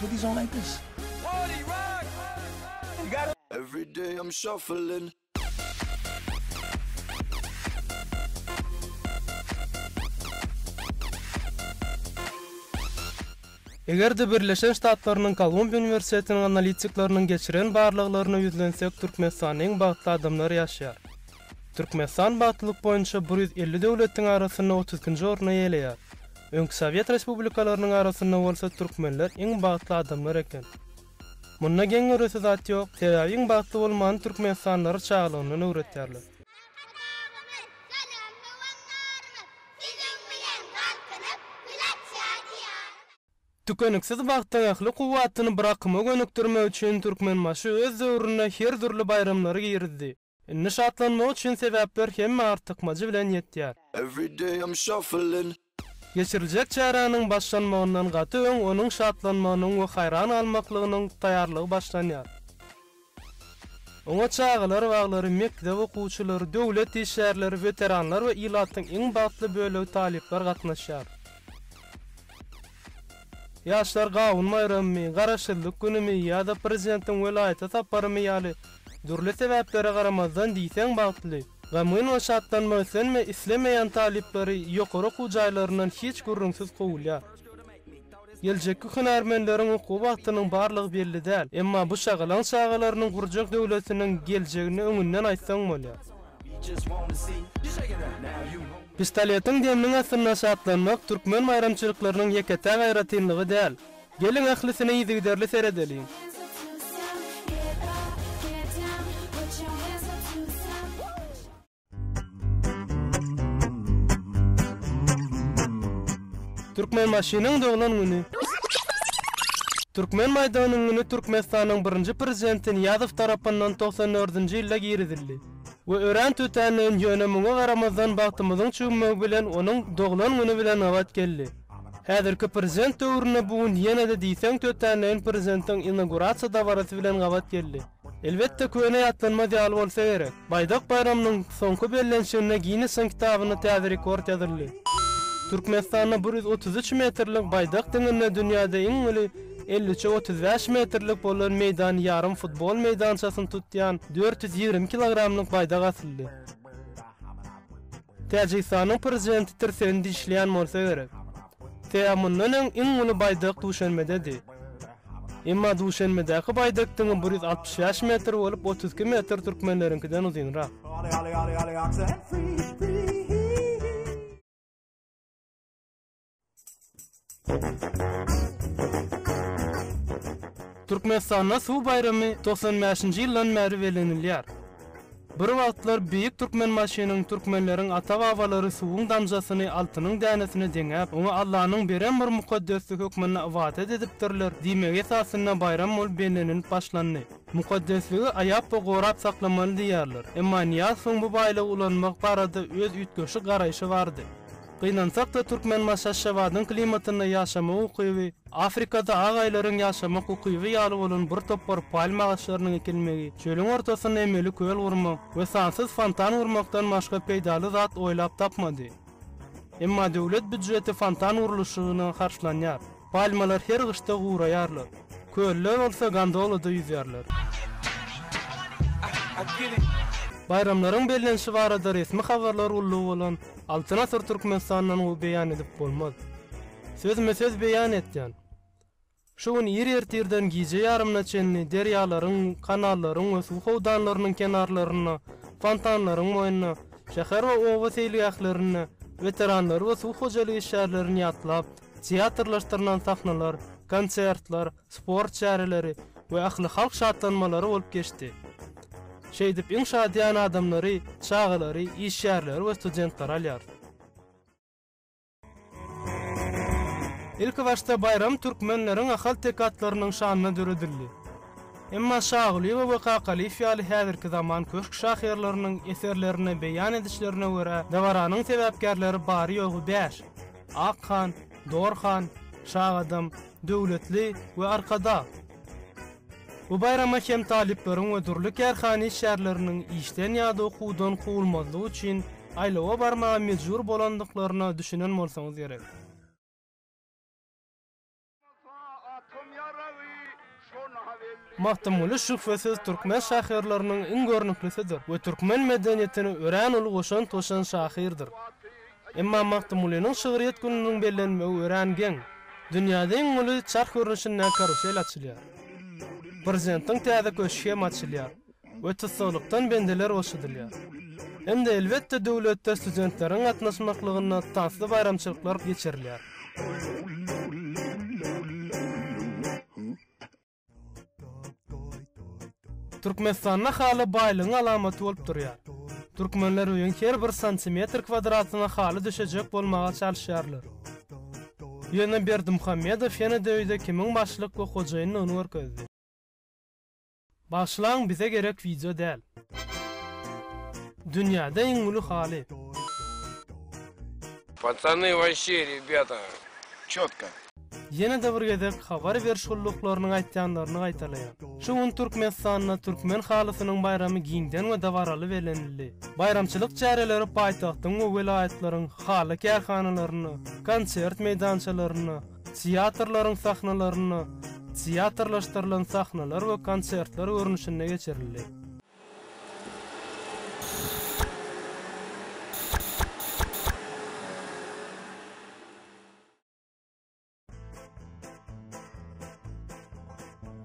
Put these on like this. Party rock. You got Every day I'm shuffling. Eger-de Birleşen Ştatlarynyň Kolumbiýa uniwersitetiniň analitikleriniň geçiren barlaglaryna ýüzlensek Türkmenistanda iň bagtly adamlar ýaşaýar. Türkmenistan bagtlylyk boýunça bir ýüz elli döwletiň arasynda otuz ikinji orny eýeleýär. Öňki sowet respublikalarynyň arasynda bolsa türkmenler iň bagtly adamlar eken. Munda geň göresi zat ýok, sebäbi iň bagtly bolmany türkmenistanlylara çagalygyndan öwretýärler. Arkadagymyz, salam howandarymyz, siziň bilen galkynyp ilaç ýaly ýarym. Tükeniksiz bagtyň ähli kuwwatyny bir akyma gönükdirmek üçin Türkmenbaşy öz döwründe her dürli baýramlary girizdi. Indi şatlanmak üçin sebäpler hemme artykmajy bilen ýetýär. Geçiriljek çäräniň başlanmagyndan gaty öň onuň şatlanmagynyň we haýran galmaklygynyň taýýarlygy başlanýar. Oňa çagalar baglary, mekdep okuwçylary, döwlet işgärleri, weteranlar we ilatyň iň bagtly bölegi talyplar gatnaşýar. Ýaşlar gawun baýramymy, Garaşsyzlyk günümi ýa-da prezidentiň welaýata saparymy ýaly dürli sebäplere garamazdan diýseň bagtly, gamgyn we şatlanmak islenme islemeýän talyplary ýokary okuw jaýlaryndan hiç gürrüňsiz kowulýar. Geljekki hünärmenleriň okuw wagtynyň barlygy belli däl, emma bu şagalaň çagalarynyň gurjak döwletiniň geljegini öňünden aýtsaň bolýar. Pistoletiň deminiň astynda şatlanmak türkmen baýramçylyklarynyň ýeke-täk aýratynlygy däl. Geliň ählisine yzygiderli seredeliň. Türkmenbaşynyň doglan güni. Türkmen maýdanyň güni Türkmenistanyň birinji Prezidenti Nyýazow tarapyndan togsan dördünji ýylda girizildi. We örän tötänleýin, ýöne muňa garamazdan bagtymyzyň çüwmegi bilen onuň doglan güni bilen gabat geldi. Häzirki prezident döwründe bu gün ýene-de diýseň tötänleýin prezidentiň inaugurasiýa dabarasy bilen gabat geldi. Elbetde köne ýatlanmaz ýaly bolsa gerek, Baýdak baýramynyň soňky bellenişiginde Ginnesiň kitabynda täze rekord ýazyldy. Türkmenistanda bir ýüz otuz üç metrlik Baýdak diňinde dünýäde iň uly, Elli üçe otuz bäş metrlik bolan meýdan ýarym futbol meýdançasyny tutýan dört ýüz ýigrimi kilogramlyk baýdak asyldy. Täjigistanyň prezidenti tirsegini dişleýän bolsa gerek. Tä mundan öň iň uly baýdak Duşenbededi. Emma Duşenbedäki baýdak diňe bir ýüz altmyş bäş metr bolup, otuz iki metr türkmenleriňkiden uzynrak. Türkmenistanda suw baýramy togsan bäşinji ýyldan bäri belenilýär. Bir wagtlar beýik Türkmenbaşynyň türkmenleriň ata-babalary suwuň damjasyny altynyň dänesine deňäp, oňa Allanyň beren bir mukaddesdi hökmünde ybadat edipdirler diýmegi esasynda baýram bolup bellenilip başlandy. Mukaddesligi aýap we gorap saklamaly diýýärler. Emma Nyýazowyň bu baýlygy ulanmak barada öz üýtgeşik garaýşy bardy. Gynansak-da türkmen baş Aşgabadyň klimatynda ýaşama ukyby, Afrikada ak aýlaryň ýaşamak ukyby ýaly bolan bir topar palma agaçlarynyň ekilmegi, çölüň ortasynda emeli köl gurmak we sansyz fontan gurmakdan başga peýdaly zat oýlap tapmady. Emma döwlet býudjeti fontan gurluşygyna harçlanýar. Palmalar her gyşda guraýarlar. Köliler bolsa gondolada ýüzýärler. Baýramlaryň bellenişi barada resmi habarlar gullugy bolan Altyn asyr Türkmenistandan gowy beýan edip bolmaz. Sözme söz beýan etýän. Şu gün ir ertirden gije ýarymyna çenli derýalaryň, kanallaryň we suw howdanlarynyň kenarlarynda, fontanlaryň boýunda, şäher we oba seýilgählerinde weteranlary we suw hojalyk işgärlerini ýatlap, teatrlaşdyrylan sahnalar, konsertler, sport çäreleri we ählihalk şatlanmalary bolup geçdi. Şeýdip, iň şadyýan adamlary, çagalary, işgärleri we studentlary alýar. Ilkibaşda baýram türkmenleriň ahalteke atlarynyň şanyna döredildi. Emma Şagulyýewa we Kakalyýew ýaly häzirki zaman köşk şahyrlarynyň eserlerinde beýan edişlerine görä, dabaranyň sebäpkärleri bary-ýogy bäş, Ak han, Dor han, Şagadam, Döwletli we Arkadag. Bu baýrama hem talyplaryň we dürli kärhana işgärleriniň işden ýa-da okuwdan kowulmazlygy üçin aýlawa barmaga mejbur bolandyklaryna düşünen bolsaňyz gerek. Magtymguly şübhesiz türkmen şahyrlarynyň iň görnüklisidir we türkmen medeniýetine örän uly goşant goşan şahyrdyr. Emma Magtymgulynyň şygryýet gününiň bellenmegi örän geň. Dünýäde iň uly çarh görnüşindäki karusel açylýar. Prezidentiň täze köşgi hem açylýar we tussaglykdan bendeler boşadylýar. Hem-de elbetde döwletde studentleriň gatnaşmaklygynda tansly baýramçylyklar geçirilýär. Türkmenistanda haly baýlygyň alamaty bolup durýar. Türkmenler öýüň her bir santimetr kwadratyna haly düşejek bolmaga çalyşýarlar. Ýöne Berdimuhamedow ýene-de öýde kimiň başlyk we hojaýyndygyny görkezdi. Bagyşlaň bize gerek wideo däl. Dünýäde iň uly haly. Pacany waşşe rebýata çotko. Ýene-de bir gezek habar beriş gulluklarynyň aýtýanlaryny gaýtalaýan. Şu gün Türkmenistanda Türkmen halysynyň baýramy giňden we dabaraly bellenildi. Baýramçylyk çäreleri paýtagtyň we welaýatlaryň haly kärhanalarynda, konsert meýdançalarynda, teatrlaryň sahnalarynda, teatrlaşdyrylan sahnalar we konsertler görnüşinde geçirildi.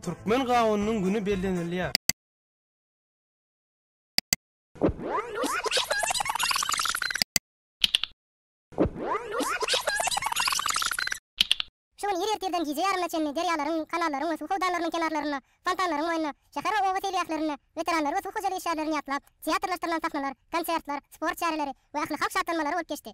Türkmen gawunynyň güni bellenilýär. Şu gün ir ertirden gije ýarymyna çenli derýalaryň, kanallaryň we suw howdanlarynyň kenarlarynda, fontanlaryň boýunda, şäher we oba seýilgählerinde weteranlary we suw hojalyk işgärlerini ýatlap, teatrlaşdyrylan sahnalar, konsertler, sport çäreleri we ählihalk şatlanmalary bolup geçdi.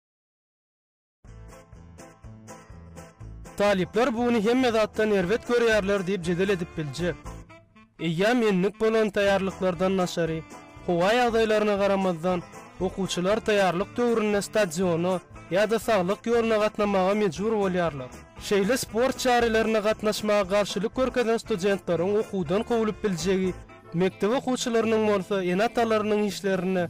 Talyplar buny hemme zatdan erbet görýärler diýip jedel edip biljek. Eýýäm endik bolan taýýarlyklardan daşary, howa ýagdaýlaryna garamazdan, okuwçylar taýýarlyk döwründe stadiona ýa-da saglyk ýoluna gatnamaga mejbur bolýarlar. Şeýle sport çärelerini gatnaşmaga garşylyk görkezen studentleriň okuwdan kowlup biljegi, mekdep okuwçylarynyň bolsa ene-atalarynyň işlerine,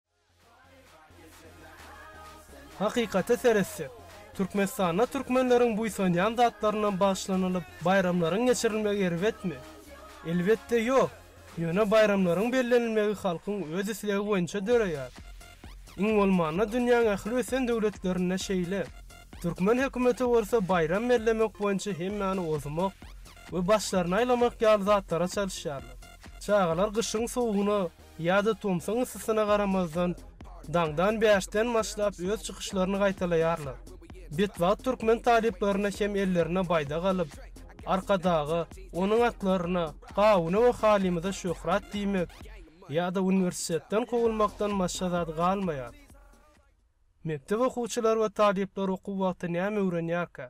Hakykata seretsek, Türkmenistanda türkmenleriň buýsanýan zatlarynam bagyşlanylyp, baýramlaryň geçirilmegi erbetmi? Elbetde ýok. Ýöne baýramlaryň bellenilmegi halkyň öz islegi boýunça döreýär. Iň bolmanda dünýäň ähli ösen döwletlerinde şeýle. Türkmen hökümeti bolsa baýram bellemek boýunça hemmäni ozmak we başlaryny aýlamak ýaly zatlara çalyşýarlar. Çagalar gyşyň sowugyna Ýa-da tomsuň yssysyna garamazdan, daňdan bäşden başlap öz çykyşlaryny gaýtalaýarlar. Betbagt türkmen talyplaryna hem ellerine baýdak alyp, Arkadaga, onuň atlaryna, gawuna we halymyza şöhrat diýmek ýa-da uniwersitetden kowulmakdan başga zat galmaýar. Mekdep okuwçylary we talyplar okuw wagty näme öwrenýärkä?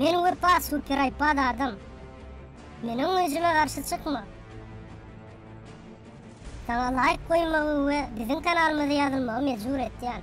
Men wepa super aýpad adam. Meniň güýjüme garşy çykma. Saňa laýk goýmagy we biziň kanalymyza ýazylmagy mejbur etýän.